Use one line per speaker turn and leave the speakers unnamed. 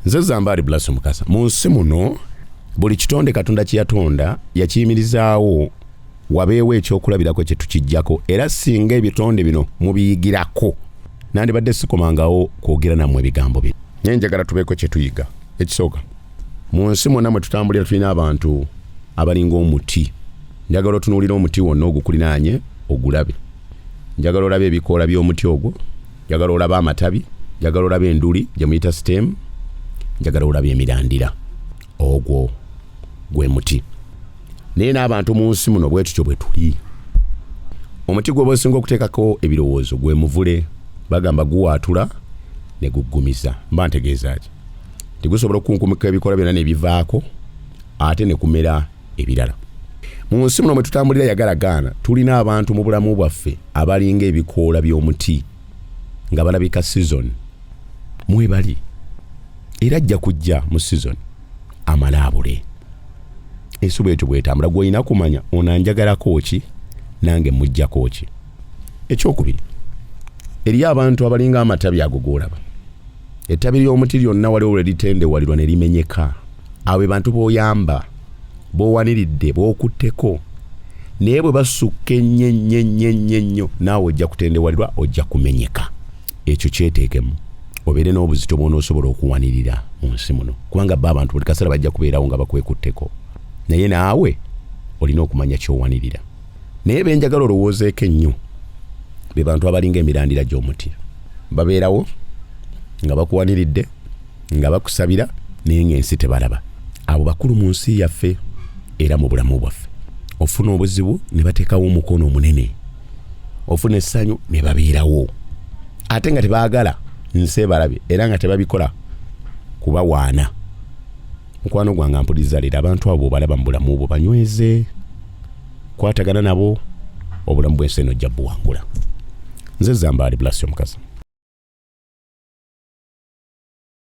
nze zambaali bulaso mukasa mu nsi muno buli kitonde katonda kyeyatonda yakiyimirizaawo wabeewo ekyokulabirako kyetukijjako era singa ebitonde bino mubiyigirako nandibadde sikomangawo kwogera namwe ebigambo bino naye njagala tubeeko kyetuyiga ekisooka mu nsi mwonna mwe tutambulira tulina abantu abalinga omuti njagala otunuulira omuti wonna ogukulinaanye ogulabe njagala olabe ebikoola by'omuti ogwo njagala olaba amatabi njagala olaba enduli gye muyita sitemu njagala olaba emirandira ogwo gwe muti naye n'abantu mu nsi muno bwe tutyo bwe tuli omuti gwe bwesinga okuteekako ebirowoozo gwe muvule bagamba guwaatula ne guggumiza mba ntegeeza ki tigusobola okukunkumika ebikola byonna ne bivaako ate ne kumera ebirala mu nsi muno mwe tutambulira yagala gaana tulina abantu mu bulamu bwaffe abalinga ebikoola by'omuti nga balabika sizoni mwebali era ajja kujja mu sizoni amale abule ensi bwetyo bwetambula gwolina kumanya ono anjagalako ki nange mujjako ki ekyokubiri eriyo abantu abalinga amatabi ago golaba ettabi ly'omuti lyonna waliwo lwe litendewalirwa ne limenyeka abo be bantu b'oyamba b'owaniridde b'okutteko naye bwe basukka ennyo ennyo ennyo ennyo ennyo naawe ojja kutendewalirwa ojja kumenyeka ekyo kyeteekemu obeere n'obuzito bw'onoosobola okuwanirira mu nsi muno kubanga bo abantu buli kaseera bajja kubeerawo nga bakwekutteko naye naawe olina okumanya ky'owanirira naye benjagala olowoozeeko ennyo be bantu abalinga emirandira gy'omuti babeerawo nga bakuwaniridde nga bakusabira naye ng'ensi tebalaba abo bakulu mu nsi yaffe era mu bulamu bwaffe ofuna obuzibu ne bateekawo omukono omunene ofuna essanyu ne babeerawo ate nga tebaagala nsi ebalabye era nga tebabikola kubawaana mukwano gwange ampuliza leero abantu abo obalaba mu bulamu bwo banyweze kwatagana nabo obulamu bwensi eno ojja buwangula nze zambaali blasi omukazi